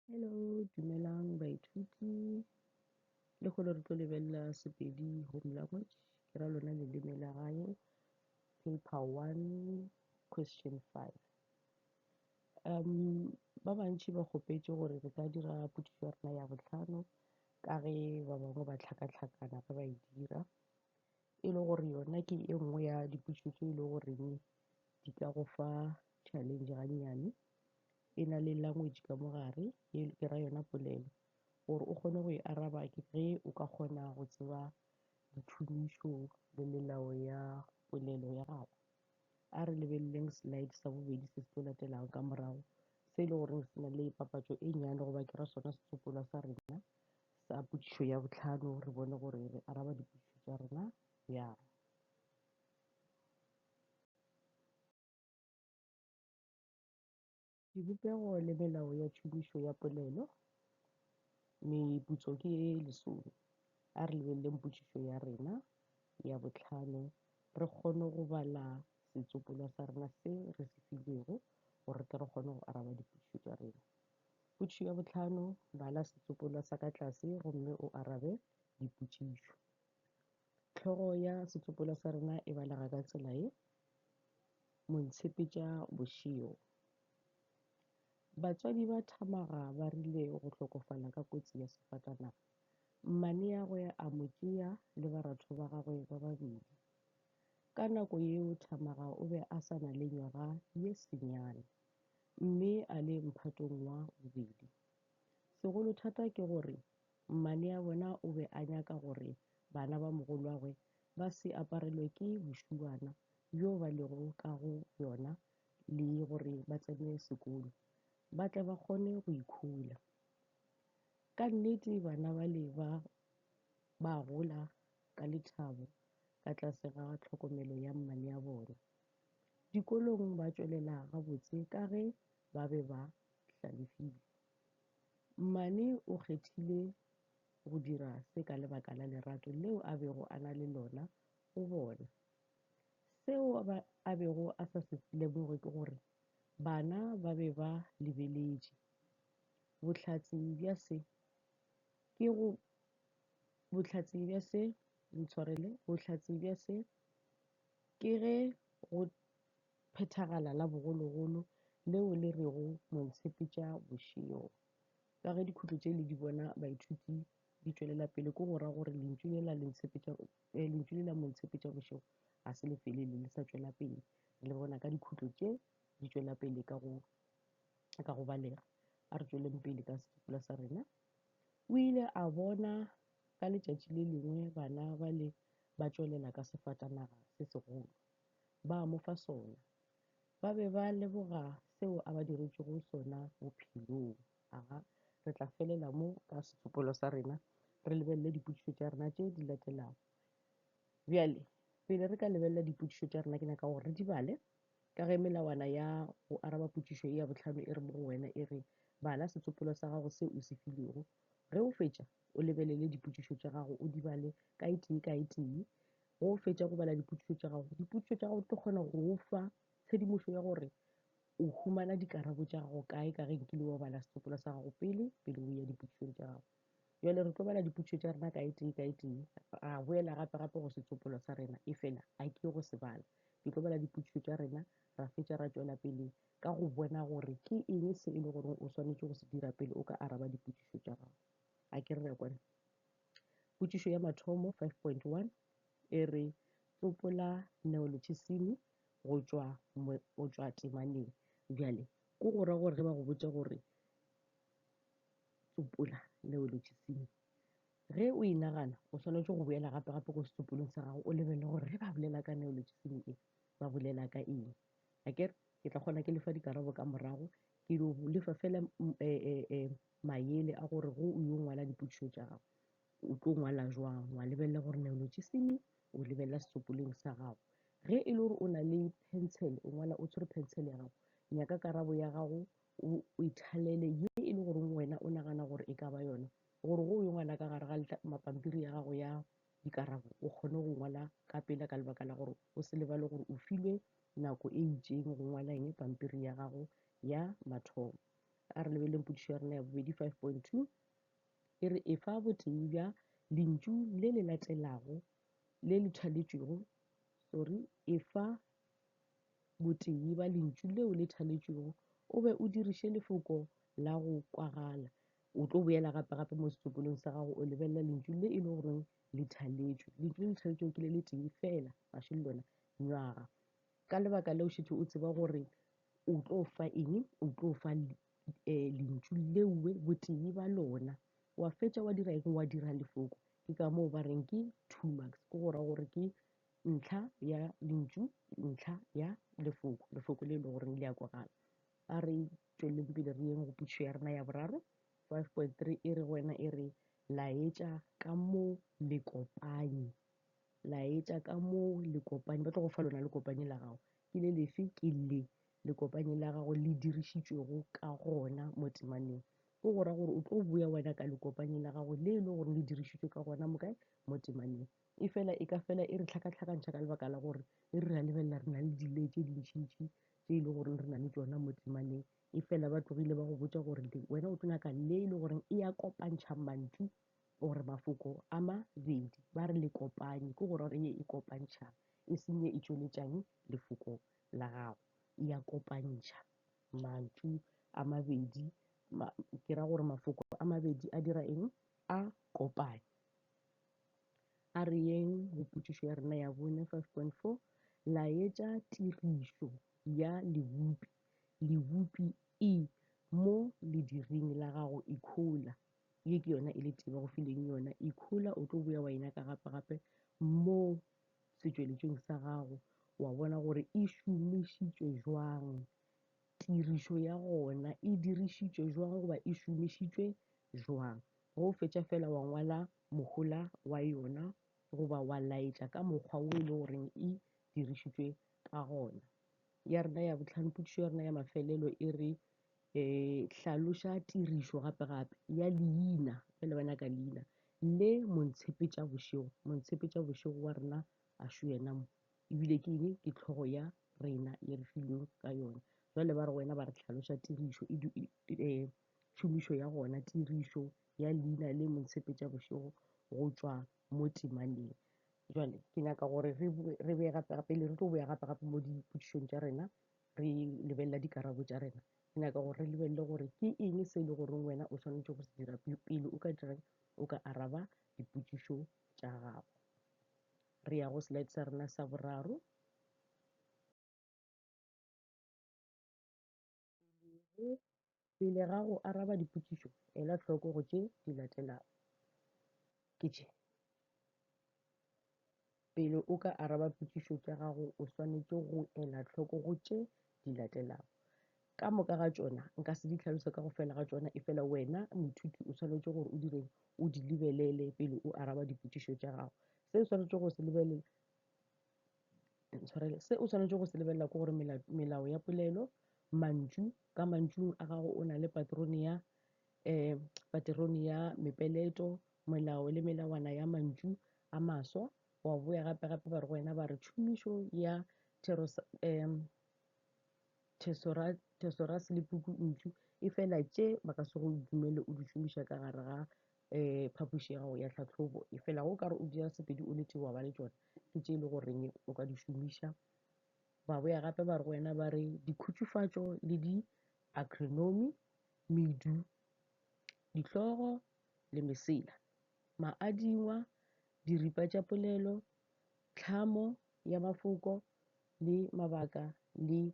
Hello, dumelang baithuti. Le kgolo re tlo lebelela Sepedi Home Language, ke ra lona leleme la gae, paper one, question five. Um, ba bantši ba kgopetše gore re ka dira potšišo ya rena ya bohlano ka ge ba bangwe ba tlhakatlhakana ge ba e dira e le gore yona ke e nngwe ya dipotšišo tše e le goreng di ka go fa challenge gannyane e na le language ka mo gare e ke ra yona polelo gore o kgone go e araba ke ge o ka kgona go tseba dithumišo le melao ya polelo ya gago a re lebeleleng slide sa bobedi se se tlo latelago ka morago se e le goreng se na le papatšo e nnyane goba ke ra sona setsopolwa sa rena sa potšišo ya botlhano re bone gore re araba dipotšišo tša rena bjang Dibopego le melao ya tšhomišo ya polelo. Meputso ke ye e lesome. A re lebeleleng potšišo ya rena ya bohlano re kgone go bala setsopolwa sa rena se re se filego gore re tle re kgone go araba dipotšišo tša rena. Potšišo ya bohlano, bala setsopolwa sa ka tlase gomme o arabe dipotšišo. Tlhogo ya setsopolwa sa rena e balega ka tsela ye, Montshepetša bošio. Batswadi ba Thamaga ba rile go hlokofala ka kotsi ya sefatanaga. Mmaneagwe a mo tšea le baratho ba gagwe ba babedi. Ka nako yeo Thamaga o be a sa na le nywaga ye senyane mme a le mphatong wa bobedi. Segolo thata ke gore Mmane ya bona o be a nyaka gore bana ba mogolwagwe ba se aparelwe ke bošuana bjo ba lego ka go bjona le gore ba tsene sekolo, ba tle ba kgone go ikhula. Ka nnete bana bale ba ba gola ka lethabo ka tlase ga tlhokomelo ya mmane ya bona. Dikolong ba tšwelela gabotse ka ge ba be ba hlalefile. Mmane o kgethile go dira se ka lebaka la lerato leo a bego a na le lona go bona. Seo a bego a sa se lemoge ke gore bana ba be ba lebeletše. Bohlatse bja se ke go, bohlatse bja se, ntshwarele, bohlatse bja se ke ge go phethagala la bogologolo leo le rego Montshepetša bošego. Ka ge dikhutlo tše le di bona baithuti di tšwelela pele ke go ra gore lentšu le la Lentshepetša eh, lentšu le la Montshepetša bošego ga se le felele le sa tšwela pele. Re le bona ka dikhutlo tše di tšwela pele ka go ka go balega. A re tšweleng pele ka sekipula sa rena. O ile a bona ka letšatši le lengwe bana ba le ba tšwelela ka sefatanaga se segolo. ba a mo fa sona. Ba be ba leboga seo a ba diretšego sona bophelong. Aga, re tla felela mo ka setsopelo sa rena, re lebelele dipotšišo tša rena tše di latelago. Bjale, pele re ka lebelela dipotšišo tša rena, ke nyaka gore re di bale, ka ge melawana ya go araba potšišo e ya botlhano e re mo go wena e re, bala setsopelo sa gago se o se filego. Ge o fetša, o lebelele dipotšišo tša gago, o di bale ka e tee ka e tee. Ge o fetša go bala dipotšišo tša gago, dipotšišo tša gago di tlo kgona go o fa tshedimošo ya gore o humana dikarabo tša gago kae ka ge nkile wa bala setsopolwa sa gago pele pele o ya dipotšišong tša gago. Jwale re tlo bala dipotšišo tša rena ka etee ka etee, ra boela gape gape go setsopolwa sa rena e fela a ke go se bala. Ke tlo bala dipotšišo tša rena ra fetša ra tšwela pele ka go bona gore ke eng se e le gore o swanetše go se dira pele o ka araba dipotšišo tša gago. A ke re re ya kwana? Potšišo ya mathomo 5.1 e re tsopola neolotšhisimi go tšwa go tšwa temaneng. Bjale ko go ra gore ge ba go botša gore tsopola neolotšhisimi ge o e nagana o swanetše go boela gape gape ko setsopolong sa gago o lebelele gore ge ba bolela ka neolotšhisimi e ba bolela ka eng a kere ke tla kgona ke lefa dikarabo ka morago ke lefa fela um, eh, eh, eh, mayele a gore go o yo ngwala dipotšišo tša gago o tlo ngwala jwang wa lebelela gore neolotšisimi o lebelela setsopoleng sa gago ge e le gore o na le pencil o ngwala o tshwere pencil ya gago nyaka karabo ya gago o ithalele ye e le gore wena o nagana gore e ka ba yona gore go o yo ngwala ka gare ga mapampiri ya gago ya dikarabo o kgone go ngwala ka pela ka lebaka la gore o se lebale gore o filwe nako e itseng go ngwala eng pampiri ya gago ya mathomo a re lebeleleng podišo ya rena ya bobedi 5.2 e re efa botee bja lentšu le le latelago le le thaletšwego sorry efa botee ba lentšu leo le thaletšwego o be o diriše lefoko la go kwagala o tlo boela gape gape mo setsopolong sa gago o lebelela lentšu le e le goreng le thaletšwe lentšu le le thaletšwego ke le le tee fela gaše le lona nywaga ka lebaka leo šetše o tseba gore O tlo fa eng? O tlo fa eh, lentšu leue botee ba lona wa fetša wa dira eng wa dira lefoko ke ka moo ba reng ke two marks ke go ra gore ke ntlha ya lentšu ntlha ya lefoko lefoko le e le goreng le ya kwagala a re tšweleleng pele re yeng go pušo ya rena ya boraro five point three e re go wena e re laetša ka moo lekopanye laetša ka moo lekopanye ba tlo go fa lona lekopanye la gago Ke le lefe? Ke le, Lekopanye la gago le dirišitšwego ka gona mo temaneng. Ke go ra gore o tlo boya wena ka lekopanye la gago le e le gore le dirišitšwe ka gona mo kae? Mo temaneng. Efela e ka fela e re tlhakatlhakantšha ka lebaka la gore e re ra lebelela re na le di-layer tše dintšintši tše e le goreng re na le tšona mo temaneng. Efela ba tlogile ba go botša gore wena o tlo nyaka le e le goreng e ya kopantšha mantšu gore mafoko a mabedi ba re le kopanye ke gore ye e kopantšha e seng ye e tšweletšang lefoko la gago e ya kopantšha mantšu a mabedi ma, ke ra gore mafoko a mabedi a dira eng a kopanye a re yeng go potšišo ya rena ya bone 5.4 laetša tirišo ya lebopi lebopi e mo lediring la gago ikhola ye ke yona e le tee ba go fileng yona ikhola o tlo boya wa e nyaka gape gape mo setšweletšong sa gago wa bona gore e šomišitšwe jwang tirišo ya gona e dirišitšwe jwang goba e šomišitšwe jwang ge o fetša fela wa ngwala mohola wa yona goba wa laetša ka mokgwa wo e le goreng e dirišitšwe ka gona ya rena ya botlhano potšišo ya rena ya mafelelo e re E hlaloša tirišo gape-gape ya leina, ge le bana ka leina, le montshepetša-bošego. Montshepetša-bošego wa rena a šo yena mo, ebile ke eng? Ke tlhogo ya rena ye re filweng ka yona. Jwale ba re go wena ba re hlaloša tirišo e, e, e tšhomišo ya gona, tirišo ya leina le montshepetša-bošego go tšwa mo temaneng. Jwale ke nyaka gore re, re be gape-gape, le re tlo boya gape-gape mo dipotšišong tša rena, re lebelela dikarabo tša rena, ke nyaka gore re lebelele gore ke eng se e le goreng wena o swanetše go se dira pele o ka dirang o ka araba dipotšišo tša gago. Re ya go slide sa rena sa boraro. Pele ga go araba dipotšišo, ela hloko go tše di latelago. Ke tše. Pele o ka araba potšišo tša gago, o swanetše go ela hloko go tše di latelago. Ka moka ga tšona, nka se di tlhalose ka go fela ga tšona, e fela wena moithuti o swanetše gore o direng, o di lebelele pele o araba dipotšišo tša gago. Se o swanetše go se lebelela ntshwarele se o swanetše go se lebelela ke gore melao ya polelo mantšu ka mantšung a gago o na le paterone ya um paterone ya mepeleto melao le melawana ya mantšu a maswa wa boya gape gape ba re go wena ba re tšhomišo ya um thesoras le puku ntšu e fela tše ba ka se go dumele o di šomiša ka gare ga um phapoši ya gago ya tlhatlhobo e felago o ka re o dira sepedi o le tee wa ba le tšona ke tše e le goreng o ka di šomiša ba boya gape ba re go wena ba re dikhutšufatšo le di-agronomy medu dihlogo le mesela maadingwa diripa tša polelo tlhamo ya mafoko le mabaka le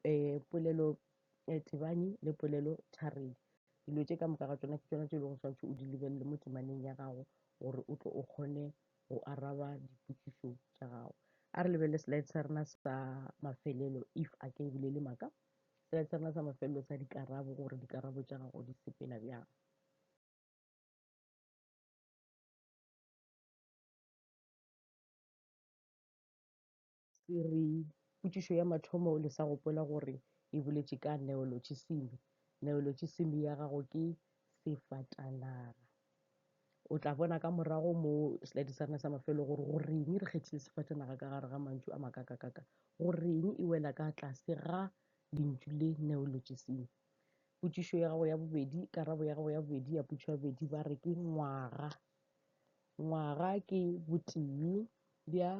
um polelo um tebanyi le polelotharedi. Dilo tše ka moka ga tšona ke tšona tše e lego swantšho o di lebelele mo temaneng ya gago gore o tle o kgone go araba dipotšišo tša gago. A re lebelele slide sa rena sa mafelelo if a ke e bolele maka. Slide sa rena sa mafelelo sa dikarabo gore dikarabo tša gago di sepela bjang. se re potšišo ya mathomo le sa gopola gore e boletše ka neolotšisimi neolotšisimi ya gago ke sefatanaga o tla bona ka morago mo slide sa rena sa mafelo gore go reng re kgethile sefatanaga ka gare ga mantšu a makakakaka go reng e wela ka tlase ga lentšu le neolotšisimi potšišo ya gago ya bobedi karabo ya gago ya bobedi ya potšo ya bobedi ba re ke ngwaga ngwaga ke botee bja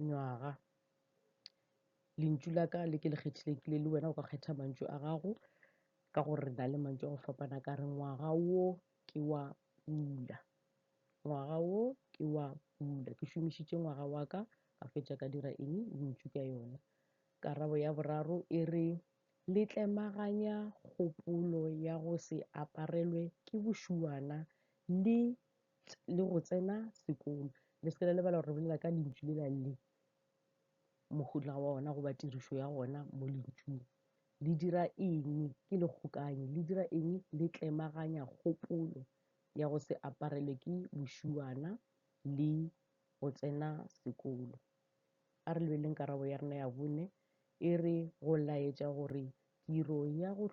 nywaga lentšu la ka le ke le kgethilekile le wena o ka kgetha mantšu a gago ka gore re na le mantšu a go fapana ka re ngwaga wo ke wa pula ngwaga wo ke wa pula ke šomišitše ngwaga wa ka ka fetša ka dira eng lentšu ka yona karabo ya boraro e re le tlemaganya kgopolo ya go se aparelwe ke bošuana le le go tsena sekolo. Le seke la lebala gore re bolela ka lentšu le la le mohuta wa ona goba tirišo ya ona mo lentšung. Le dira eng? Ke le kgokanyi. Le dira eng? Le tlemaganya kgopolo ya go se aparelwe ke bošuana le go tsena sekolo. A re lebeleleng karabo ya rena ya bone e re go laetša gore tiro ya go,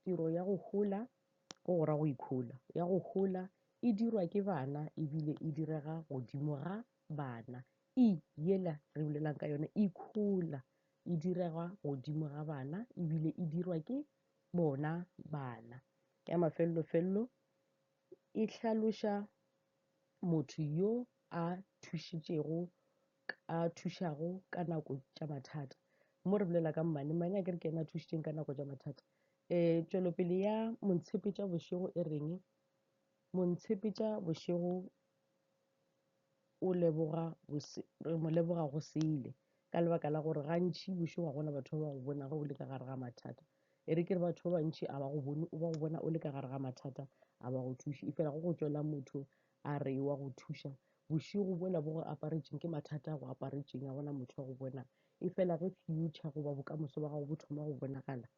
tiro ya go hola go go ra go ikhola ya go hola e dirwa ke bana ebile e direga godimo ga bana e yela re bolelang ka yone e khola e direga godimo ga bana ebile e dirwa ke bona bana ya mafellofello e hlaloša motho yo a thušitšego a thušago ka nako tša mathata mo re bolela ka mmane mmane a ke re ke ena a thušitšeng ka nako tša mathata Eh, tšwelopele ya Montshepetša bošego e reng? Montshepetša bošego o leboga re mo leboga go sele ka lebaka la gore gantši bošego ga gona batho ba ba go bonago o le ka gare ga mathata e re ke re batho ba bantši a ba go bone o ba go bona o le ka gare ga mathata a ba go thuše e fela go go tswela motho a re wa go thuša bošego bola bo go aparetšeng ke mathata a go aparetšeng a gona motho wa go bona Efela ge fiyutšha goba bokamoso ba gago bo thoma go bonagala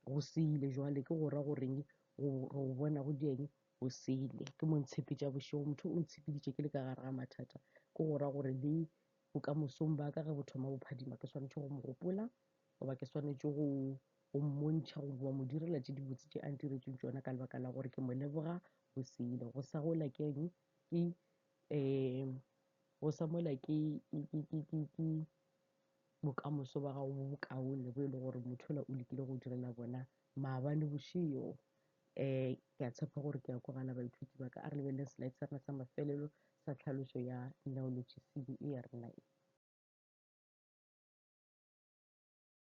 go sele, bjale ke go ra go reng? Go re o bona go di eng? Go sele. Ke mo ntshepetša bošego. Motho o ntshepeditše ke le ka gare ga mathata. Ke go ra gore le bokamosong ba ka ge bo thoma bo phadima, ke swanetše go mo gopola goba ke swanetše go go mmontšha goba mo direla tše dibotse tše a ntiretseng tšona ka lebaka la gore ke mo leboga go sele. Go sa gola ke eng? Ke um go sa mola ke ke ke ke ke bokamoso ba gago bo bokaone bo e le gore motho ola o lekile go direla bona maabane bošego um eh, ke a tshepa gore ke ya kwagala baithuti ba ka a re lebelele slide sa rena sa mafelelo sa tlhaloso ya neologisimi e ya rena e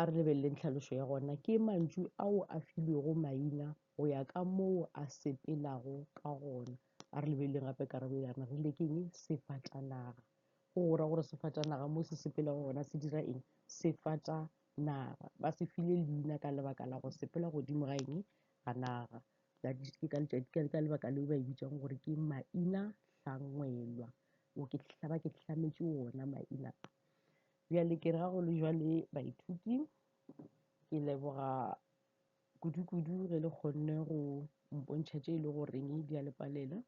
A re lebeleleng tlhalošo ya gona. Ke mantšu ao a filwego maina go ya ka moo a sepelago ka gona. A re lebeleleng gape karabo e yana re le ke eng? Sefatanaga. Go go ra gore sefatanaga mo se sepelago gona se dira eng? Sefatanaga. Ba se file leina ka lebaka la go sepela godimo ga eng? Ga naga. That is ke ka letšatši ka ka lebaka leo ba e bitsang gore ke maina hlangwelwa. O ke ba ke hlametše ona maina a. Bjale ke re ga go le jwale baithuti, ke leboga kudu-kudu ge le kgonne go mpontšha tše e le goreng di a le palela.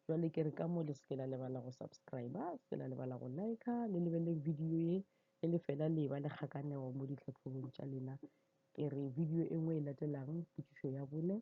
Jwale ke re ka mo le se ke la lebala go subscribe, se ke la lebala go like, le lebelele video ye e le fela le ba le kgakanego mo ditlhahlobong tša lena. Ke re video e nngwe e latelang, potšišo ya bone,